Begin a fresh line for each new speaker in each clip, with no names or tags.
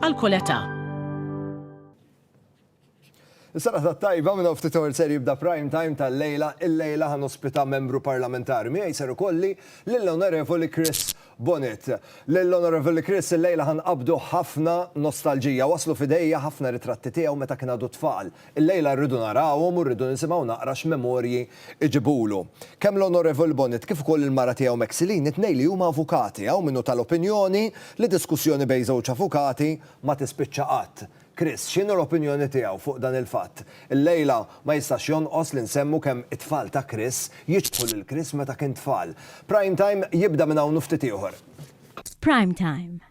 għal kull età. Is-serata t-tajba minn hawn ftit oħra ser jibda prime time tal-lejla. Il-lejla ħa nospita membru parlamentari. Miegħi ser ikolli lill-Onorevoli Chris Bonett. Lill-Onorevoli Chris il-lejla ħa nqabdu ħafna nostalġija. Waslu f'idejja ħafna ritratti tiegħu meta kien għadu tfal. Illejla rridu narawhom u rridu nisimgħu naqra x'memorji jġibulu. Kemm l-Onorevoli Bonnitt kif ukoll il-mara tiegħu Mexilene, it-tnejn li huma avukati, hawn min hu tal-opinjoni li diskussjoni bejn żewġ avukati ma tispiċċa qatt. Chris, x'inhi l-opinjoni tiegħu fuq dan il-fatt? Illejla ma jistax jonqos li nsemmu kemm it-tfal ta' Chris jiċħu lil Chris meta kien tfal. Prime Time jibda minn hawn u ftit ieħor. Prime Time.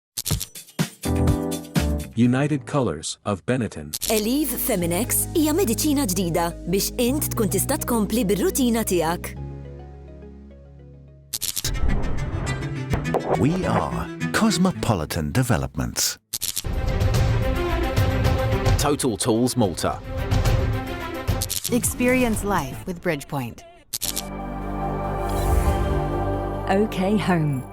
United Colors of Benetton. Eliv Feminex hija mediċina ġdida biex int tkun tista' tkompli bir-rutina tiegħek. We are Cosmopolitan Developments. Total Tools Malta. Experience life with Bridgepoint. OK Home.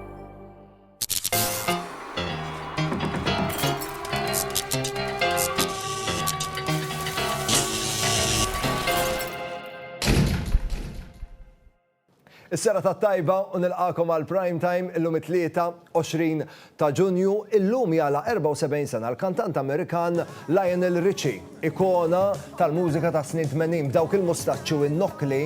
Is-sera ta' tajba u nilqakom għal prime time illum it-23 ta' Ġunju illum jala 74 sena l-kantant Amerikan Lionel Richie. Ikona tal-mużika tas-snin tmenin, b'dawk il-mustaċċi u n-nokkli,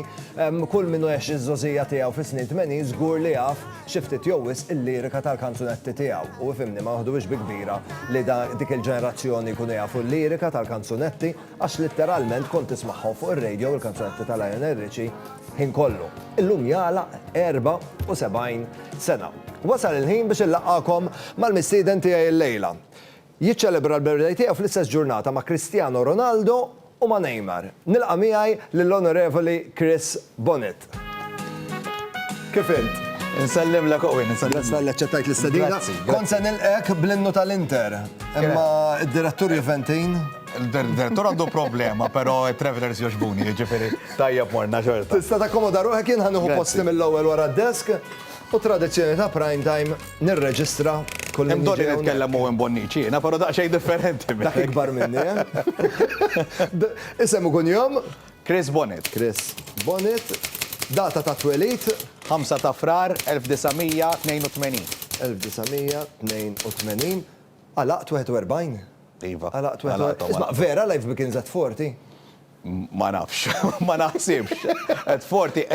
kull min għex iż-żgħożija tiegħu fis-snin tmenin żgur li jaf xi ftit jew wisq il-lirika tal-kanzunetti tiegħu. U ifhimni, ma noħduhiex bi kbira li dik il-ġenerazzjoni jkunu jafu l-lirika tal-kanzunetti għax litteralment kont tismagħhom fuq ir-radio il-kanzunetti ta' Lionel Richie ħin kollu. Illum jagħlaq 74 sena. Wasal il-ħin biex inlaqqagħkom mal-mistieden tiegħi llejla. Jiċċelebra l-birthday tiegħu fl-istess ġurnata ma' Cristiano Ronaldo u ma' Neymar. Nilqa' miegħi lill-Onorevoli Chris Bonnitt. Kif int? Insellimlek Owen, insellimlek. Grazzi talli aċċettajt l-istedina. Grazzi, grazzi. Kont se nilqgħek bl-innu tal-Inter, imma d-direttur Juventin. Il-direttur għandu problema, però it-travelers jogħġbuni, jiġifieri tajjeb morna xorta. Tista' takkomoda ruħek, jien ħa nieħu posti mill-ewwel wara d-desk. U tradizzjoni ta' Prime Time nirreġistra kull min jiġi hawnhekk. Hemm bżonn li nitkellem Owen Bonnici jiena, però daqsxejn differenti minnek. Dak ikbar minni, eh? Isem u kunjom? Chris Bonnitt. Chris Bonnitt. Data ta' twelid? 5 ta' Frar 1982. 1982. Għalaqt 41? Iva. Għalaqt 41. Isma' vera Life Begins at 40? Ma nafx, ma naħsibx. Qed forti,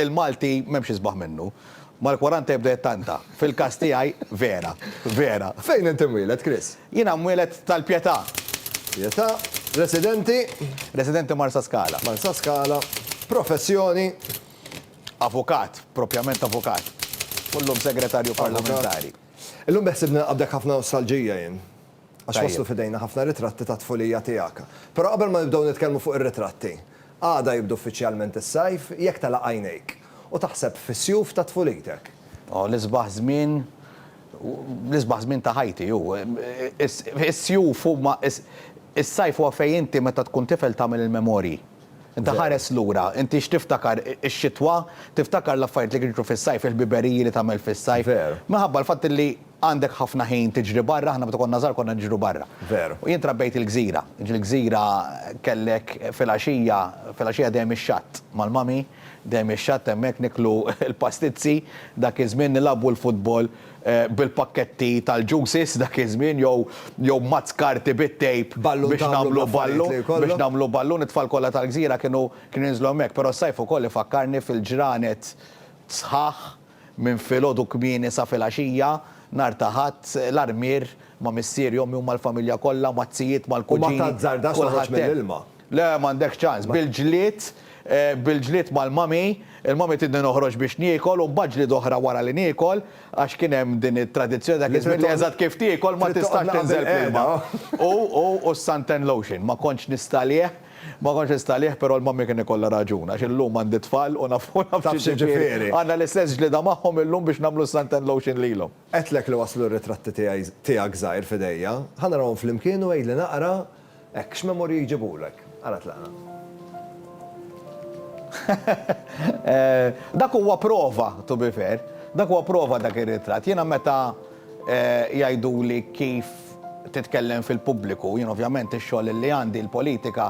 il-Malti m'hemmx isbaħ minnu. Mal-kwaranta jibda jittanta. Fil-każ tiegħi, vera, vera. Fejn int imwieled, Chris? Jiena mwieled tal-Pietà. Pietà, residenti? Residenti Marsaskala. Marsaskala, professjoni? Avukat, propjament avukat. U llum Segretarju Parlamentari. Illum beħsibni nilqabdek ħafna nostalġija jien. Għax waslu f'idejna ħafna ritratti tat-tfulija tiegħek. Però qabel ma nibdew nitkellmu fuq ir-ritratti, għada jibdu uffiċjalment is-sajf, jekk tela' għajnejk u taħseb fis-sjuf ta' tfulitek. O, l-isbaħ żmien, l-isbaħ żmien ta' ħajti hu. Is-sjuf huma, is-sajf huwa fejn inti meta tkun tifel tagħmel il-memorji. Inti ħares lura, inti x'tiftakar ix-xitwa, tiftakar l-affarijiet li kienu jiġru fis-sajf, il-ħbiberiji li tagħmel fis-sajf. Minħabba l-fatt li Għandek ħafna ħin tiġri barra, aħna meta konna żgħar konna niġru barra. Veru. U jien trabbejt il-gżira. Jiġifieri l-gżira kellek filgħaxija, filgħaxija dejjem ix-xatt mal-mami, dejjem ix-xatt hemmhekk niklu l-pastizzi, dak iż-żmien nilagħbu l-futbol bil-pakketti tal-juices dak iż-żmien jew jew mazz karti bit-tape biex nagħmlu ballu, biex nagħmlu ballun, it-tfal kollha tal-gżira kienu kienu jinżlu hemmhekk. Però s-sajf ukoll ifakkarni fil-ġranet sħaħ Minn filgħodu kmieni sa filgħaxija nhar ta' Ħadd, l-armier, ma' missieri, ommi u mal-familja kollha, maz-zijiet, mal-kuġini, kulħadd hemm. U ma tazzardax toħroġ mill-ilma. Le, m'għandekx ċans. Bil-ġlied, bil-ġlied mal-mommy, il-mommy tridni noħroġ biex niekol u mbagħad ġlieda oħra wara li niekol, għax kien hemm din it-tradizzjoni dak iż-żmien li eżatt kif tiekol ma tistax tinżel fl-ilma. U, u, u s-suntan lotion, ma kontx nista' għalih. Ma kontx instalih però l-mommy kien ikollha raġun għax illum għandi tfal u naf x'jiġifieri. Għandna l-istess ġlieda magħhom illum biex nagħmlu s-sand and lotion lilhom. Għedtlek li waslu r-ritratti tiegħek żgħir f'idejja. Ħa narahom flimkien u għidli naqra hekk x'memorji jġibulek. Ara tlaqna. Dak huwa prova, to be fair. Dak huwa prova dak ir-ritratt. Jiena meta. Jgħiduli kif titkellem fil-pubbliku. Jien ovvjament ix-xogħol li għandi, il-politika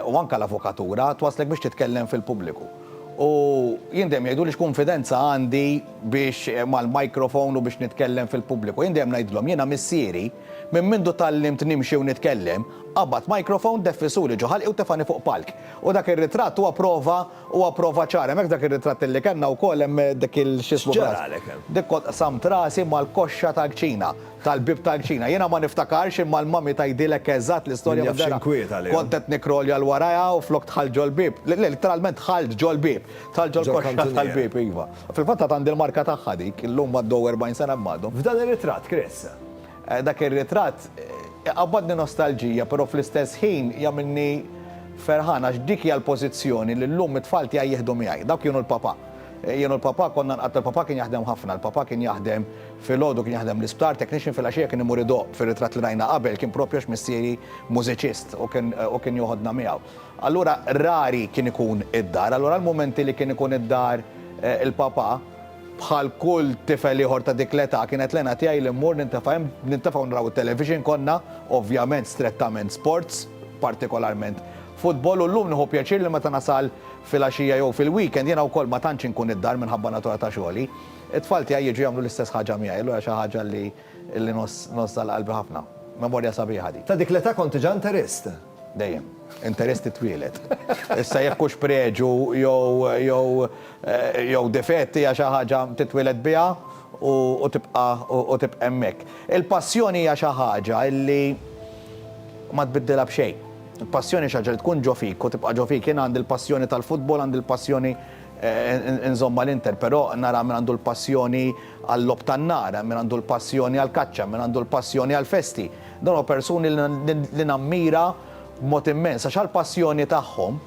u anke l-avukatura, twasslek biex titkellem fil-pubbliku. U jien dejjem jgħiduli x'kunfidenza għandi biex mal-microphone u biex nitkellem fil-pubbliku. Jien dejjem ngħidilhom, jiena missieri, minn mindu tgħallimt nimxi u nitkellem, qabad microphone, deffisuli ġo ħalqi u tefgħani fuq palk. U dak ir-ritratt huwa prova Huwa prova ċara, hemmhekk f'dak ir-ritratt illi kellna wkoll hemm dik il x'ismu bras. X'ġaralek hemm? Dik kont qsamt rasi mal-koxxa tal-kċina, tal-bieb tal-kċina. Jiena ma niftakarx imma l-mummy tgħidilek eżatt l-istorja minn dera. Min jaf x'inkwiet għaliha. Kont qed nikrolja 'l warajha u flok dħalt ġol-bieb, litteralment dħalt ġol-bieb, dħalt ġol-koxxa tal-bieb, iva. Fil-fatt għad għandi l-marka tagħha dik, illum għaddew 40 sena minn għadhom. F'dan ir-ritratt, Chris, Dak ir-ritratt iqabbadni nostalġija però fl-istess ħin jagħmilni ferħan għax dik hija l-pożizzjoni li llum it-tfal tiegħi jieħdu miegħi. Dawk kienu l-papà. Jien u l-papà konna nqattgħu l-papà kien jaħdem ħafna. Il-papà kien jaħdem filgħodu kien jaħdem l-isptar, technician, filgħaxija kien imur idoqq. Fir-ritratt li rajna qabel kien propju għax missieri mużiċist u kien u kien joħodna miegħu. Allura rari kien ikun id-dar. Allura l-mumenti li kien ikun id-dar il-papà Bħal kull tifel ieħor ta' dik l-età, kienet l-għena tiegħi li mmur nintefa' hemm, nintefa' u nraw it-television. Konna, ovvjament, strettament sports, partikolarment futbol, u llum nieħu pjaċir li meta nasal filgħaxija jew fil-weekend, jiena wkoll ma tantx inkun id-dar minħabba natura ta' xogħli, it-tfal tiegħi jiġu jagħmlu l-istess ħaġa miegħi, allura xi ħaġa li ngħożżha għal qalbi ħafna. Memorja sabiħa dik. Ta' dik l-età kont diġà interist. Dejjem. Interess titwieled. Issa jekk hux preġu jew jew jew difett hija xi ħaġa titwieled biha u u tibqa' u tibqa' hemmhekk. Il-passjoni hija xi ħaġa li ma tbiddilha b'xejn. Il-passjoni xi ħaġa li tkun ġo fik u tibqa' ġo fik. Jien għandi l-passjoni tal-futbol, għandi l-passjoni nżomm mal-Inter, però nara min għandu l-passjoni għal-logħob tan-nar, hemm min għandu l-passjoni għall-kaċċa, hemm min għandu l-passjoni għall-festi. Dawn huma persuni li nammira b'mod immens għax għall-passjoni tagħhom,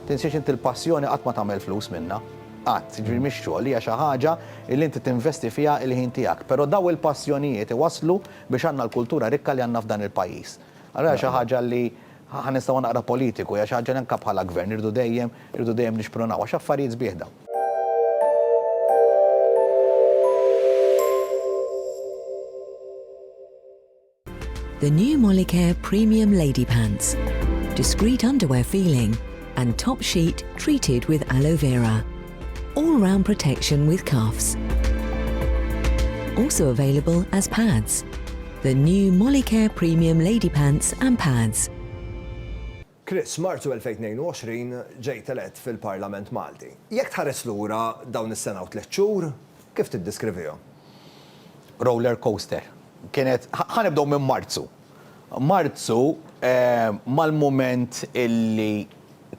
tinsiex inti l-passjoni qatt ma tagħmel flus minnha, qatt, jiġifieri mhix xogħol, hija xi ħaġa li inti tinvesti fiha l-ħin tiegħek. Però dawn il-passjonijiet iwasslu biex għandna l-kultura rikka li għandna f'dan il-pajjiż. Allura hija xi ħaġa li Ħa nistgħu naqra politiku, hija xi ħaġa li anke bħala Gvern irridu dejjem, irridu dejjem nixprunaw għax affarijiet sbieħ dawn. The new Molicare Premium Lady Pants. Discreet underwear feeling and top sheet treated with aloe vera. All round protection with cuffs. Also available as pads. The new Molicare Premium Lady Pants and Pads. Chris, Marzu 2022 ġejt elett fil-Parlament Malti. Jekk tħares lura dawn is-sena u tliet xhur, kif tiddiskrivihom? Roller coaster. Kienet, ħa nibdew minn Marzu. Marzu, mal-mument illi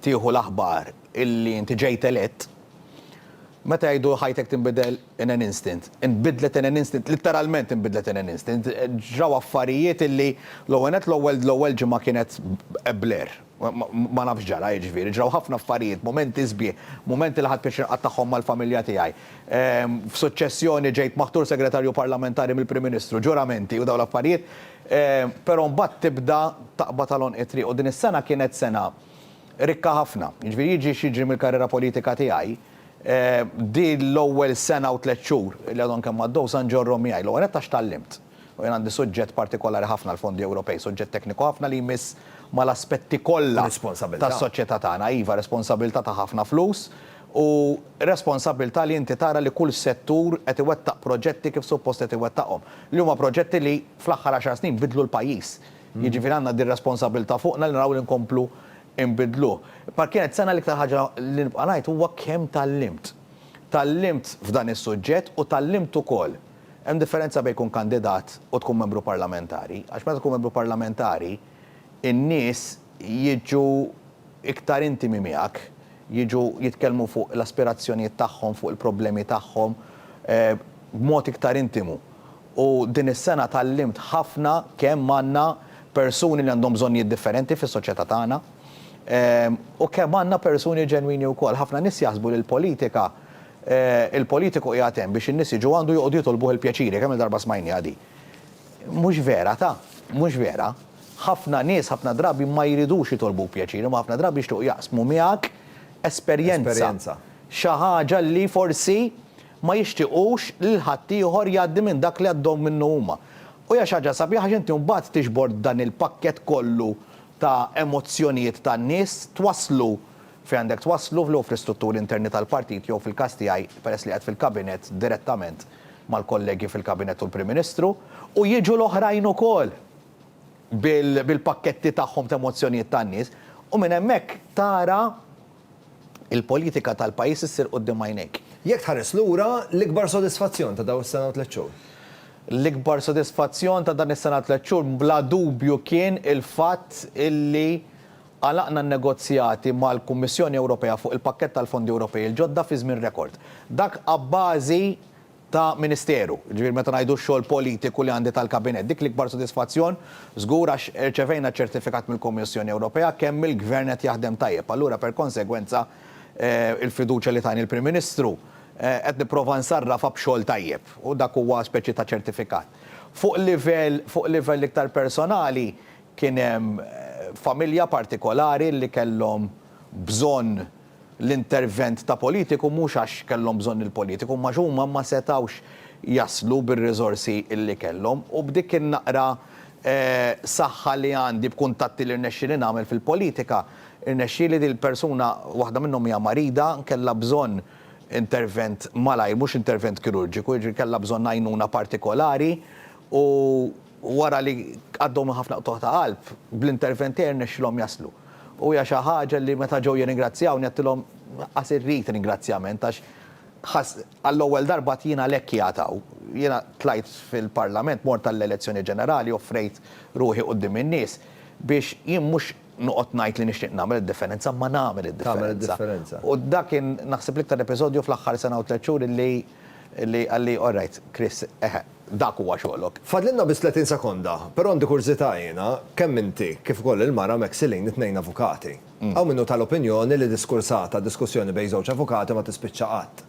tieħu l-aħbar illi inti ġejt elett, meta jgħidu ħajtek tinbidel in an instant, inbidlet in an instant, litteralment inbidlet in an instant. Ġraw affarijiet illi l-ewwel nett l-ewwel l-ewwel ġimgħa kienet a blur. Ma nafx ġara, jiġifieri ġraw ħafna affarijiet, mumenti sbieħ, mumenti li ħadt pjaċir inqattagħhom mal-familja tiegħi. F'suċċessjoni ġejt maħtur Segretarju Parlamentari mill-Prim Ministru, ġuramenti u dawn l-affarijiet, però mbagħad tibda taqbad għal għonq it-triq u din is-sena kienet sena rikka ħafna. Jiġifieri jiġi x'jiġri mill-karriera politika tiegħi, din l-ewwel sena u tliet xhur li għadhom kemm għaddew sa nġorrhom miegħi. L-ewwel nett għax tgħallimt. U jien għandi suġġett partikolari ħafna l-fondi Ewropej, suġġett tekniku ħafna li jmiss mal-aspetti kollha tas-soċjetà tagħna. Iva, responsabbiltà ta' ħafna flus u responsabbiltà li inti tara li kull settur qed iwettaq proġetti kif suppost qed iwettaqhom. Li huma proġetti li fl-aħħar għaxar snin biddlu l-pajjiż. Jiġifieri għandna din responsabbiltà fuqna li naraw li nkomplu nbiddluh. Bħal kienet sena l-iktar ħaġa li nibqa' ngħid huwa kemm tgħallimt. Tgħallimt f'dan is-suġġett u tgħallimt ukoll. Hemm differenza bejn tkun kandidat u tkun membru parlamentari, għax meta tkun membru parlamentari n-nies jiġu iktar intimi miegħek, jiġu jitkellmu fuq l-aspirazzjonijiet tagħhom, fuq il-problemi tagħhom b'mod iktar intimu. u din is-sena tgħallimt ħafna kemm għandna persuni li għandhom bżonnijiet differenti fis-soċjetà tagħna u kemm għandna persuni ġenwini wkoll. Ħafna nies jaħsbu li l-politika, il-politiku qiegħed hemm biex in-nies jiġu għandu joqogħdu jitolbuh il-pjaċiri, kemm-il darba smajniha din. Mhux vera, ta. Mhux vera. Ħafna nies ħafna drabi ma jridux jitolbuk pjaċir, imma ħafna drabi jixtiequ jaqsmu miegħek esperjenza, xi ħaġa li forsi ma jixtiequx li l-ħaddieħor jgħaddi minn dak li għaddhom minnu huma. U hija xi ħaġa sabiħa għax inti mbagħad tiġbor dan il-pakkett kollu ta' emozzjonijiet tan-nies, twasslu fejn għandek twasslu, jew fl-istrutturi interni tal-partit jew fil-każ tiegħi, peress li qiegħed fil-Kabinett, direttament mal-kollegi fil-Kabinett u l-Prim Ministru, u jiġu l-oħrajn ukoll bil-pakketti tagħhom ta' emozzjonijiet tan-nies, u minn hemmhekk tara, il-politika tal-pajjiż issir quddiem għajnejk. Jekk tħares lura, l-ikbar sodisfazzjon ta' dawn is-sena u tliet xhur? L-ikbar sodisfazzjon ta' dan is-sena u tliet xhur bla dubju kien il-fatt illi għalaqna n-negozjati mal-Kummissjoni Ewropea fuq il-pakkett tal-Fondi Ewropej il-ġodda fi żmien rekord. Dak abbażi ta' ministeru, jiġifieri meta ngħidu x-xogħol politiku li għandi tal-Kabinett. Dik l-ikbar sodisfazzjon, żgur, għax irċevejna ċertifikat mill-Kummissjoni Ewropea kemm il-Gvern qed jaħdem tajjeb. Allura per konsegwenza, il-fiduċja li tani l-Prim Ministru, qed nipprova nsarrafha b'xogħol tajjeb u dak huwa speċi ta' ċertifikat. Fuq livell, fuq livell iktar personali, kien hemm familja partikolari li kellhom bżonn, l-intervent ta' politiku mhux għax kellhom bżonn il-politiku imma għax huma ma setgħux jaslu bir-riżorsi li kellhom u b'dik in-naqra saħħa li għandi b'kuntatti li rnexxieli nagħmel fil-politika rnexxieli din il-persuna waħda minnhom hija marida kellha bżonn intervent malajr mhux intervent kirurġiku jiġifieri kellha bżonn għajnuna partikolari u Wara li għaddew minn ħafna qtugħ ta' qalb, bl-intervent tiegħi rnexxilhom jaslu. U hija xi ħaġa li meta ġew jirringrazzjawni għedtilhom qas irrid ringrazzjament għax ħass għall-ewwel darba għad jien għalhekk qiegħed hawn. Jiena tlajt fil-Parlament, mort għall-elezzjoni ġenerali, offrejt ruħi quddiem in-nies biex jien mhux noqgħod ngħid li nixtieq nagħmel id-differenza imma nagħmel id-differenza. U dak kien naħseb l-iktar episodju fl-aħħar sena u tliet xhur li Li qalli, All right, Chris, eħe, dak huwa xogħlok. Fadlilna biss 30 sekonda, però għandi kurżità jiena, kemm inti, kif ukoll il-mara Maxilene it-tnejn avukati. Hawn min hu tal-opinjoni li diskursata, diskussjoni bejn żewġ avukati ma tispiċċa qatt.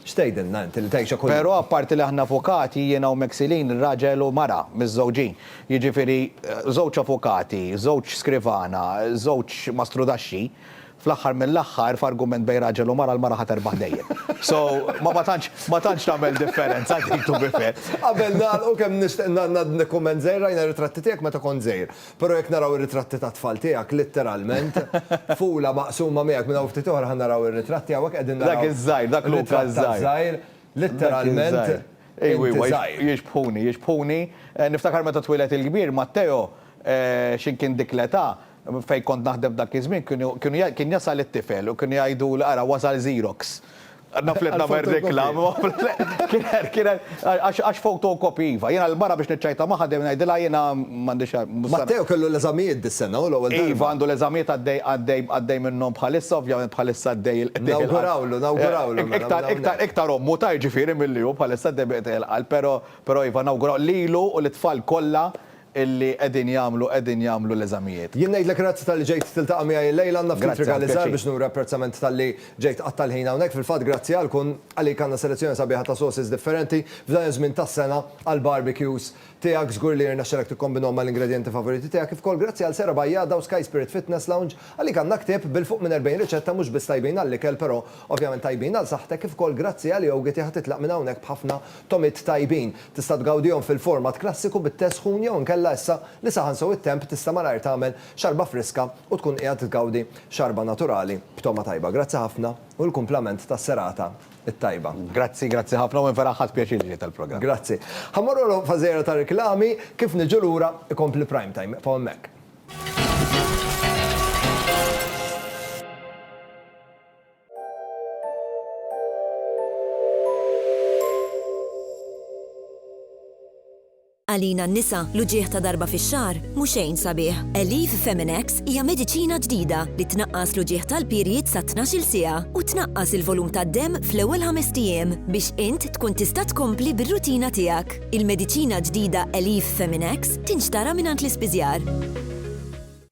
X'tgħidilna inti li tgħixha kuljum? Però apparti li aħna avukati, jiena u Maxilene raġel u mara, miżżewġin. Jiġifieri, żewġ avukati, żewġ skrivana, żewġ mastrudaxxi, Fl-aħħar mill-aħħar, f'argument bejn raġel u mara, l-mara ħa terbaħ dejjem. So, ma ma tantx, ma tantx tagħmel differenza dik to be fair. Qabel nagħlqu kemm nixtieq ngħaddi nikkumment żgħir, rajna r-ritratti tiegħek meta kont żgħir. Però jekk naraw ir-ritratti tat-tfal tiegħek, litteralment, tfula maqsuma miegħek minn hawn ftit oħra ħa naraw ir-ritratti hawnhekk qegħdin naraw. Dak iż-żgħir, dak Luca ż-żgħir. Dak iż-żgħir, litteralment, inti żgħir. Jixbħuni, jixbħuni. Niftakar meta twieled il-kbir, Matteo, x'in kien dik l-età, Fejn kont naħdem f'dak iż-żmien kien jasal it-tifel u kienu jgħiduli ara wasal Xerox. Naf li qed nagħmel reklama. Għax photocopy iva. Jiena l-mara biex niċċajta magħha dejjem ngħidilha jiena m'għandix. Matteo kellu l-eżamijiet dis-sena hu l-ewwel darba. Iva għandu l-eżamijiet għaddej minnhom bħalissa ovvjament bħalissa għaddej il-qtieħ. Nawgurawlu, nawgurawlu. Iktar ommu ta' jiġifieri milli hu bħalissa għaddej bi qtieħ il-qalb pero iva nawguraw lilu u lit-tfal kollha illi qegħdin jagħmlu qegħdin jagħmlu l-eżamijiet. Jien ngħidlek grazzi talli ġejt tiltaqa' miegħi illejla, għandna ftit rigali żgħar biex nuri apprezzament talli ġejt tqatta' l-ħin hawnhekk, fil-fatt grazzi għalk u għalik għandna selezzjoni sabiħa ta' sauces differenti f'dan iż-żmien tas-sena għall-barbecues tiegħek, żgur li jirnexxilek tikkombinhom mal-ingredjenti favoriti tiegħek, kif ukoll grazzi għal Sera Bajjada u Sky Spirit Fitness Lounge, għalik għandna ktieb bil-fuq minn 40 riċetta mhux biss tajbin għall-ikel però ovvjament tajbin għal saħħtek, kif ukoll grazzi għal Yoghity ħa titlaq minn hawnhekk b'ħafna tomiet tajbin. Tista' tgawdihom fil-format klassiku bit-tesħun jew inkella issa li saħan sew it-temp tista' malajr tagħmel xarba friska u tkun qiegħed tgawdi xarba naturali b'togħma tajba. Grazzi ħafna u l-kumplament tas-serata t-tajba. Grazzi, grazzi ħafna u jien vera ħadt pjaċir li ġejt għall-programm. Grazzi. Ħa mmorru l-għodu f'għażejra ta' riklami, kif niġu lura ikompli Prime Time. Ibqgħu hemmhekk. Għalina n-nisa, l-uġigħ ta' darba fix-xahar mhu xejn sabiħ. Elif Feminex hija mediċina ġdida li tnaqqas l-uġigħ tal-period sa 12-il siegħa u tnaqqas il-volum tad-demm fl-ewwel ħamest ijiem biex int tkun tista' tkompli bir-rutina tiegħek. Il-mediċina ġdida Elif Feminex tinxtara mingħand l-ispiżjar.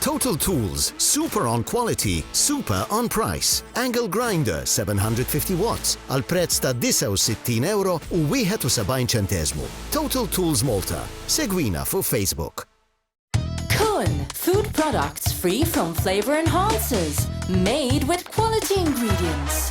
Total Tools, super on quality, super on price. Angle grinder 750 watts għal prezz ta' €69 u 71 ċenteżmu. Total Tools Malta. Segwina fuq Facebook. Kun, food products free from flavor enhancers, made with quality ingredients.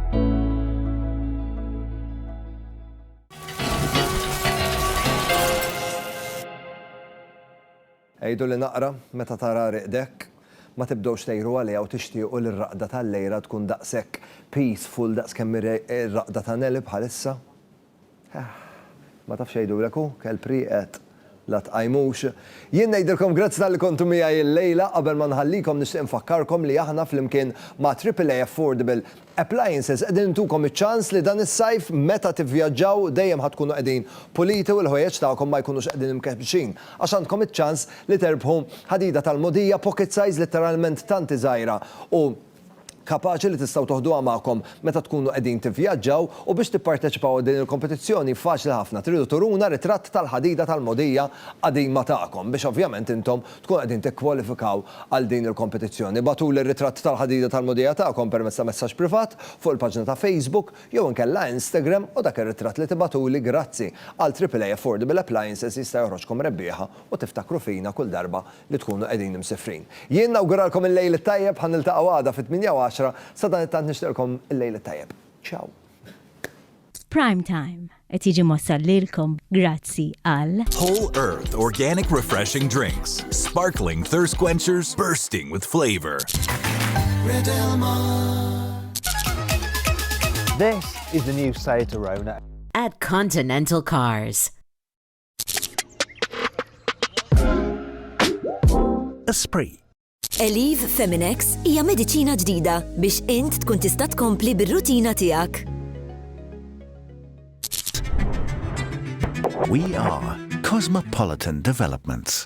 Għiduli naqra, meta tara riqdek, ma tibdewx tgħiru għaliha u tixtiequ li r-raqda tal-lejra tkun daqshekk peaceful daqskemm hi r-raqda ta' Nelly bħalissa? Eħ, ma tafx jgħidulek hu, kelb rieqed, la tqajmux. Jien ngħidilkom grazzi talli kontu miegħi illejla, qabel ma nħallikom nixtieq infakkarkom li aħna flimkien ma' Triple A Affordable Appliances qegħdin intukom iċ-ċans li dan is-sajf meta tivvjaġġaw dejjem ħa tkunu qegħdin puliti u l-ħwejjeġ tagħkom ma jkunux qegħdin imkebbxin għax għandkom iċ-ċans li terbħu ħadida tal-mogħdija pocket size litteralment tanti żgħira u kapaċi li tistgħu toħduha magħkom meta tkunu qegħdin tivvjaġġaw u biex tipparteċipaw għal din il-kompetizzjoni faċli ħafna tridu turuna ritratt tal-ħadida tal-mogħdija qadima tagħkom biex ovvjament intom tkunu qegħdin tikkwalifikaw għal din il-kompetizzjoni ibgħatuli r-ritratt tal-ħadida tal-mogħdija tagħkom permezz ta' messaġġ privat fuq il-paġna ta' Facebook jew inkella Instagram u dak ir-ritratt li tibgħatuli grazzi għal AAA Affordable Appliances jista' joħroġkom rebbieħa u tiftakru fina kull darba li tkunu qegħdin imsifrin. Jien nawguralkom il-lejl it-tajjeb, ħa niltaqgħu għada fit-tmienja u għaxra, sadanittant nixtieqlkom il-lejl it-tajjeb. Ciao. Prime Time qed jiġi mwassal lilkom grazzi għal. Whole Earth Organic Refreshing Drinks, Sparkling Thirst Quenchers Bursting with Flavor. This is the new Seat Arona. At Continental Cars. Esprit Eliv Feminex hija mediċina ġdida biex int tkun tista' tkompli bir-rutina tiegħek. We are Cosmopolitan Developments.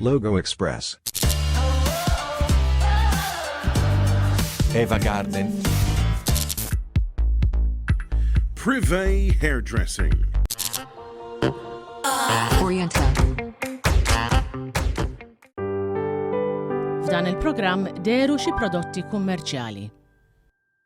Logo Express. Eva Garden. Privé Hairdressing. Oriental. F'dan il-programm deru xi prodotti kummerċjali.